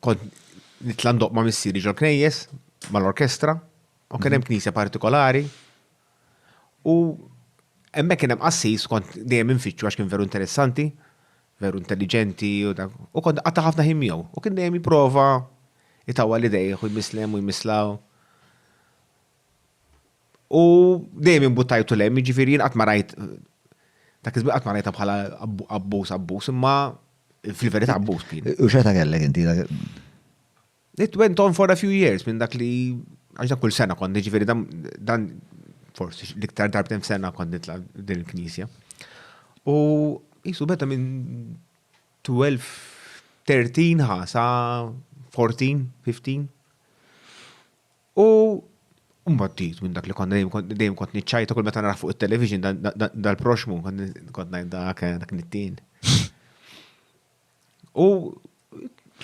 Kont nitla' ndoqq ma' missieri ġol-knejjes, mal-orkestra, u kien hemm knisja partikolari. U hemmhekk kien hemm qassis kont dejjem infittxu għax kien veru interessanti, veru intelliġenti u dak. U kont qatta' ħafna ħin miegħu. U kien dejjem jipprova jtawwal idejh u jmisslem u jmisslaw. U dejjem imbuttajtu lem, jiġifieri jien qatt ma rajt dak iż-żmien qatt ma rajtha bħala abbuż abbuż, imma fil-verità abbuż kien. U xeta kellek inti? It went on for a few years minn dak li għax kull sena kont jiġifieri dan forsi l-iktar darbtejn f'sena kont nitla' din il-knisja. U jisu beta minn 12, 13 ħa sa 14, 15. U mbagħad ġid minn dak li konna dejjem kont niċċajta kull meta nara fuq it-television dal-proxmu kont ngħid dak eh, dak nittin. U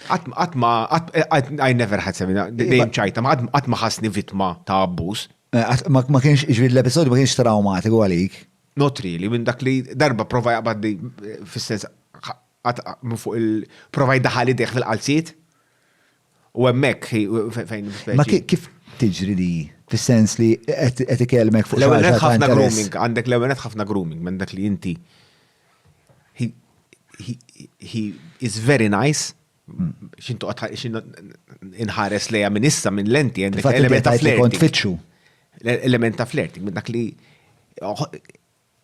qatt ma I never had semina dejjem ċajta, ma qatt ma ħassni vittma ta' abbuż. Eh, ma kienx ġrid l-episodju ma kienx traumatiku għalik. Not really, minn dak li darba prova jaqbad fis-sens minn fuq il-prova jdaħal idejh fil-qalziet. U hemmhekk fejn. Ma kif tiġri li fis-sens li qed ikellmek fuq l-ewwel qed ħafna grooming, għandek l-ewwel qed ħafna grooming minn dak li inti he is very nice xintu inħares lejha minn issa minn lenti għandek element ta' flirting. Kont fitxu. Element ta' flirting minn dak li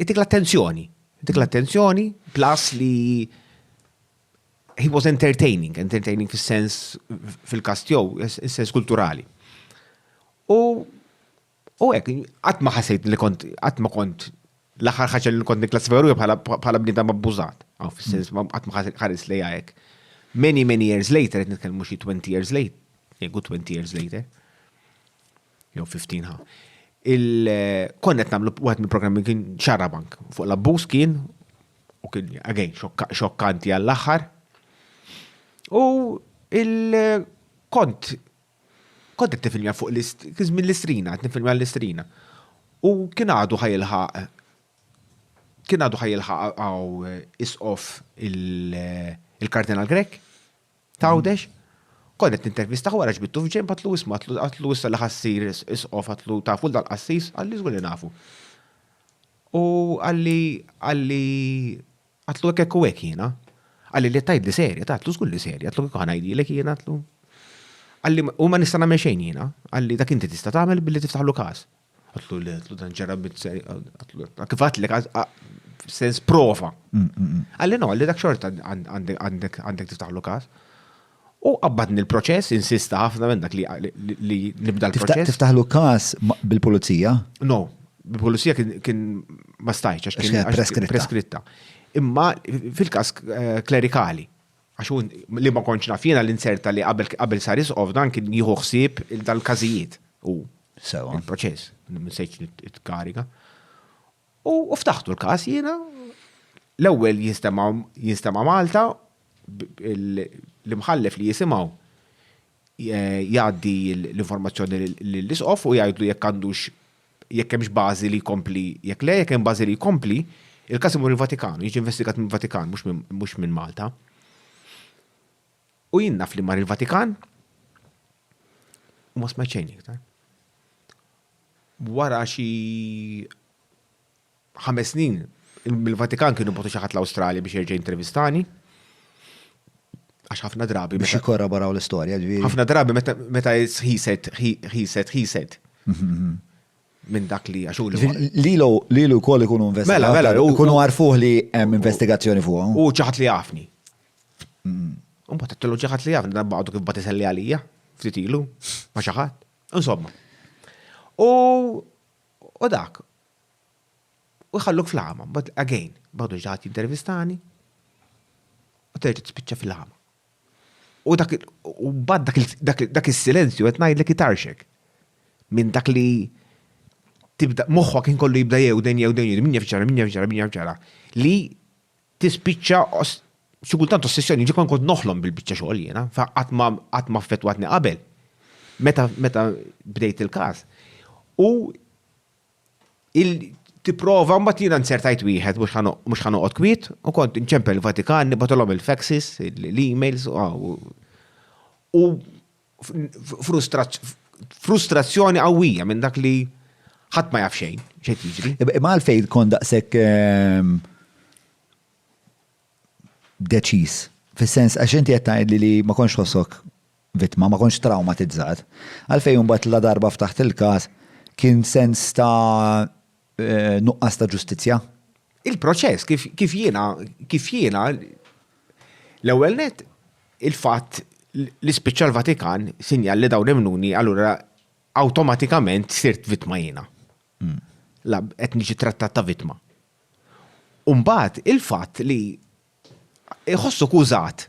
Itik l-attenzjoni. Itik l-attenzjoni, plus li he was entertaining, entertaining fil-sens fil-kast jow, fil-sens kulturali. U u hekk, qatt ma ħasejt li kont qatt ma kont l-aħħar ħaġa li kont nikklassifika ruħi bħala bniedem abbużat. Aw fis-sens ma qatt ma ħares li hekk. Many many years later qed nitkellmu xi 20 years later, jgħidu 20 years later. Jew 15 ha. Konna qed nagħmlu wieħed mill-programmi kien xarabank fuq l-abbuż kien u kien again xokkanti għall-aħħar. U il-kont kont qed tifilja fuq l-ismin l-istrina, qed nifilja l-istrina. U kien għadu ħajilħaq kien għadu ħajilħaq għaw isqof il-Kardinal Grek. Tgħawdex? Kont qed nintervistah wara ġbidtu f'ġenb għadtlu isma' għadtlu issa li ħassir isqof għadtlu tafu l qassis qalli żgur li nafu. U qalli qalli għadtlu hekk hekk u hekk jiena. Qalli li tajt li serja, għadtlu żgur li serja, għadtlu kif ngħidilek jiena għadtlu. Qalli u ma nista' nagħmel xejn jiena, qalli dak inti tista' tagħmel billi tiftaħlu każ. Għatlu li għatlu dan ġara bizzeri, għatlu kif għatlek, sens prova. Mm, mm, mm. Għalli no, għalli dak xorta għandek tiftaħlu kas. U għabbadni l-proċess, insista ħafna minn dak li nibda l-proċess. Tiftaħlu kas bil-pulizija? No, bil-pulizija kien ma stajċ, għax kien preskritta. Imma fil-kas eh, klerikali, Għax hu, li ma kontx naf jiena, li nzerta li qabel sar Isqof dan kien jieħu ħsieb dal-każijiet hu. Sewwa. Il-proċess, ma sejtx nitkariga. U ftaħtu l-każ jiena, l-ewwel jinstema' Malta, l-imħallef li jisimgħu jgħaddi l-informazzjoni lill-Isqof u jgħidlu jekk għandux jekk hemmx bażi li jkompli, jekk le, jekk hemm bażi li jkompli, il-każ imur il-Vatikan u jiġi investigat mill-Vatikan mhux minn Malta. U jien naf li mar il-Vatikan u ma smajt xejn iktar. Wara xi ħames snin mill-Vatikan kienu botu xi ħadd l-Awstralja biex jerġa' intervistani. Għax ħafna drabi. Biex jikorraboraw l-istorja, ġviri. ħafna drabi meta he said, he said, he said. Minn dak li għaxu li. Lilu, lilu kol ikunu investigazzjoni. Mela, mela, mela ikunu għarfuħ li hemm investigazzjoni fuq. U ċaħat li għafni. Un bat t-tellu ċaħat li għafni, dan baqdu kif bat iselli għalija, ftit ilu, ma ċaħat. Insomma. U U dak. U jħalluk fl-għama, mbagħad again, b'għadu xi ħadd jintervistani u terġa' tispiċċa fil-għama. U dak u mbagħad dak is-silenzju qed ngħidlek itarxek minn dak li tibda moħħok inkollu jibda jew dejn jew dejn min jaf ġara, min jaf ġara, min jaf ġara li tispiċċa xi kultant ossessjoni, ġi kon kont noħlom bil-biċċa xogħol jiena, fa qatt ma qatt ma affettwatni qabel. Meta meta bdejt il-każ. U il tipprova mbagħad jiena nsertajt wieħed mhux ħano- mhux ħanoqgħod kwiet u kont inċempel il-Vatikan, nibatolhom il-faxes, l-emails u- u frustrazzjoni qawwija minn dak li ħadd ma jaf xejn xejn jiġri. Imma għalfejn tkun daqshekk ehm, deċiż. Fis-sens għax inti qed tgħid li ma konx ħossok vittma, ma konx traumatizzat. Għalfejn imbagħad la darba ftaħt il-każ kien sens ta' nuqqas ta' ġustizzja? Il-proċess kif jiena kif jiena l-ewwel net il-fatt li spiċċa l-Vatikan sinjal li dawn imnuni allura awtomatikament sirt vittma jiena. Hmm. La qed niġi trattat ta' vittma. Umbagħad il-fatt li Iħossuk użat.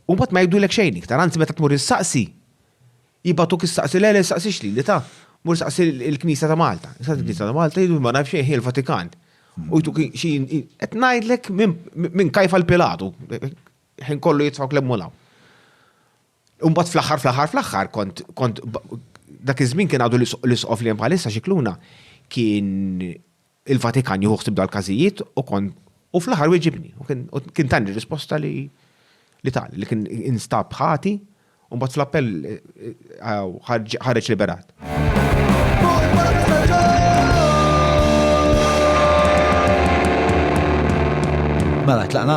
U mbagħad ma jgħidulek xejn iktar, anzi meta tmur issaqsi, jibgħatuk issaqsi, le le staqsix lili ta, mur staqsi l-Knisja ta' Malta. Staqsi l-Knisja ta' Malta jgħidu ma nafx xejn hi l-Vatikan. U jtuk xi qed ngħidlek minn kajfa l-Pilatu. Ħin kollu jitfgħu lemmu law. U mbagħad fl-aħħar fl-aħħar fl-aħħar kont kont dak iż-żmien kien għadu l-isqof li hemm bħalissa xikluna kien il-Vatikan jieħu ħsieb dal-każijiet u kont u fl-aħħar wieġibni. U kien tani risposta li li tal li kien instab ħati u mbagħad fl-appell eh, ħareġ liberat. Mela tlaqna.